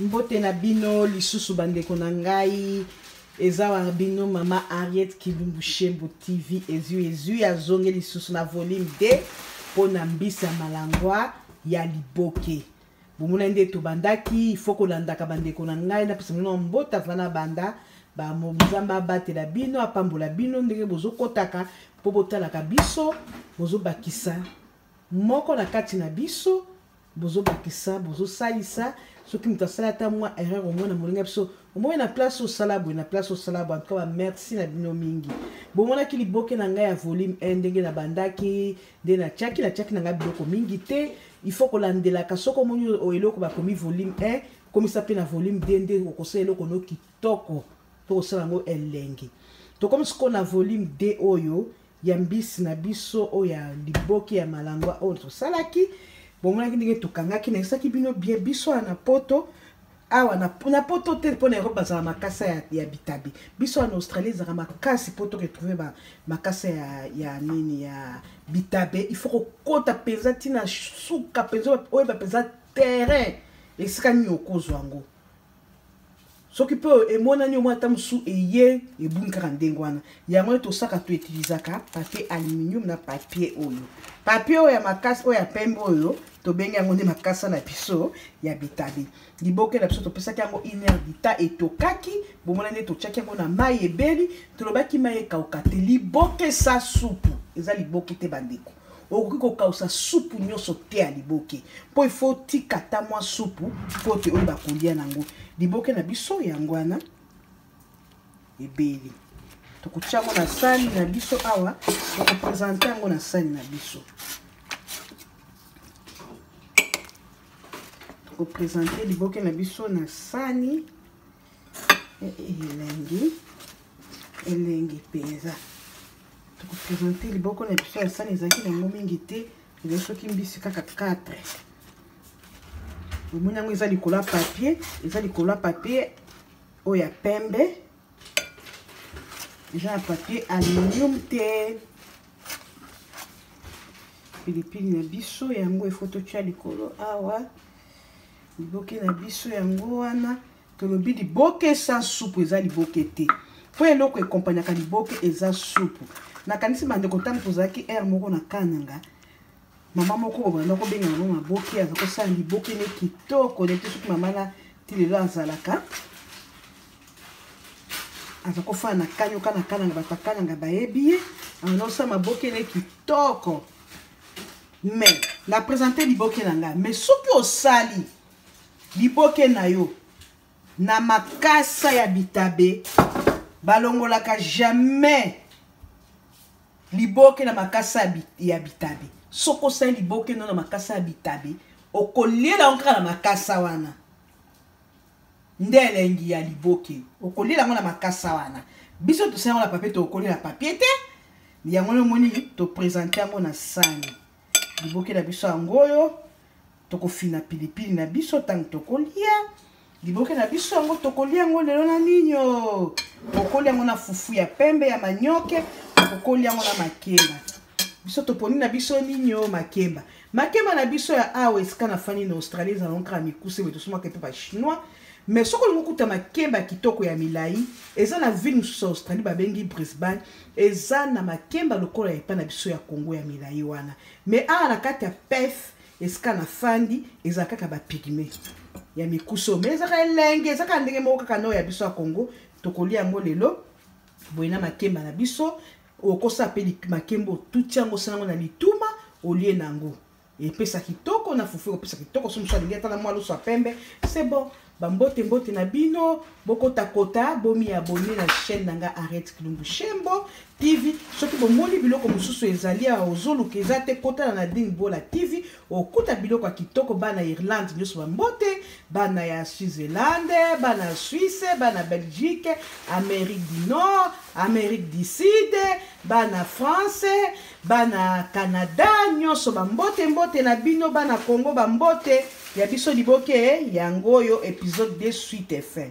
mbote na bino lisusu bandeko na ngai eza wana bino mama ariet kilumbu shembo tv ezwi ezwi azongi lisusu na volume 2 mpo na mbisi ya malangwa ya liboke bomona nde tobandaki ifo kolandaka bandeko na ngai napesa bino mbota vana banda bamozamba abatela bino apambola bino ndenge bozokotaka mpo botalaka biso bozobakisa moko na kati na biso bozobakisa bozosalisa soki moto asala ata mwa erreur omona molinga biso omoni na place osala boye na place osala boye antuka bamerci na bino mingi bomonaki liboke na ngai ya volume 1 ndenge nabandaki nde natiaki natiaki na ngai biloko mingi te il faut kolandelaka soki omoni oyo eloko bakomi volume 1 komisa mpe na volume 2 nde okosala eloko no kitoko mpo kosala yango elengi tokomi sikoyo na volume 2 oyo ya mbisi na biso oyo ya liboke ya malangwa oyo tosalaki bomonaki ndenge tokangaki nayebisaki bino bie biso wana na poto awa na, na poto te mpo na europe bazala makasa ya, ya bitabe biso wana na australie ezalaka makasi mpo toretrouve ba, makasa ya, ya nini ya bitabe il faut kokota mpenza ntina suka mpenza oyeba mpenza terrain esika nini okozwa yango soki mpe oyo emonani omoi ata mosusu eye ebungi kaka ndenge wana yango nde tosaka toitilizaka papier aluminium na papier oyo papier oyo ya makasi oyo ya pembe oyo tobengi yango nde makasa na biso ya bitabe liboke na biso topesaki yango iner dita etokaki bomona nde totyaki yango na mai ebeli tolobaki mai ekauka te liboke sa supu eza liboke te bandeko okoki kokausa supu nyonso te ya liboke mpo ifo otika ata mwa supu mpo te oyo bakolia nango liboke na biso yango wana ebeli tokotya yango na sani na biso awa tokopresente yango na sani na biso tokopresente liboke na biso na sani elengi elengi mpenza tokopresente liboko na biso ya sani ezalaki na yango mingi te ezali soki mbisi kaka 4 omoni yango eza likolo ya papier eza likolo ya papier oyo ya pembe eza na papier aluminium te pilipili na biso yango efo totya likolo awa liboke na biso yango wana tolobi liboke sa supu eza liboke te mpo eloko ekompanyaka liboke eza supu nakanisi bandeko ntango tozalaki aire moko na kananga mama moko obanda kobenga yango maboke aza kosala liboke ne kitoko nete soki mama na ti lelo azalaka aza kofana na kanyoka na kananga bato akananga bayebi ye aza kosala maboke ne kitoko mais na presente liboke na ngai mais soki osali liboke na yo na makasa ya bitabe balongolaka jamais liboke na makasa ya bitabe soki osali liboke no na makasa ya bitabe okoliela yango kaka na makasa wana nde elengi ya liboke okolia yango na makasa wana biso tosa yango na papie tokokoli na papie te yango nde omoni topresente yango na sani liboke na biso yango oyo tokofina pilipili na biso ntango tokolia liboke na biso yango tokolia yango lelo na nini o okoli yango na fufu ya pembe ya manioke okokoli yango na makemba biso toponi na biso nini o makemba makemba na biso ya awa esika nafandi na australie ezala nkaka mikuse boye tosomaka mpe bachinois mais soki olingi okuta makemba kitoko ya milai eza na ville mosusu ya australie babengi brisbane eza na makemba lokola ya epai na biso ya congo ya milai wana mais awa na kati ya pef esika nafandi eza kaka bapigme ya mikuse oyo mais ezaka elenge ezaka ndenge moko kaka nao ya biso ya congo tokolia yango lelo boye na makemba na biso okosala mpe makembo otuti yango osala yango na lituma olie na yango epesa kitoko na fufu ekopesa kitoko so mosu alingi ata na mwa loso ya pembe se bon bambote mbote na bino bokotakota bomi abone na chaîne na nga arete kilumbu shembo tv soki bomoni biloko mosusu ezali awa ozoluka eza te kotala na ding bola tv okuta biloko ya kitoko bana irlande nyonso bambote bana ya switzerland bana ya swisse bana belgique amérique du nord amérique du sud bana france bana canada nyonso bambote mbote na bino bana congo bambote ya biso liboke yango oyo episode de suite fin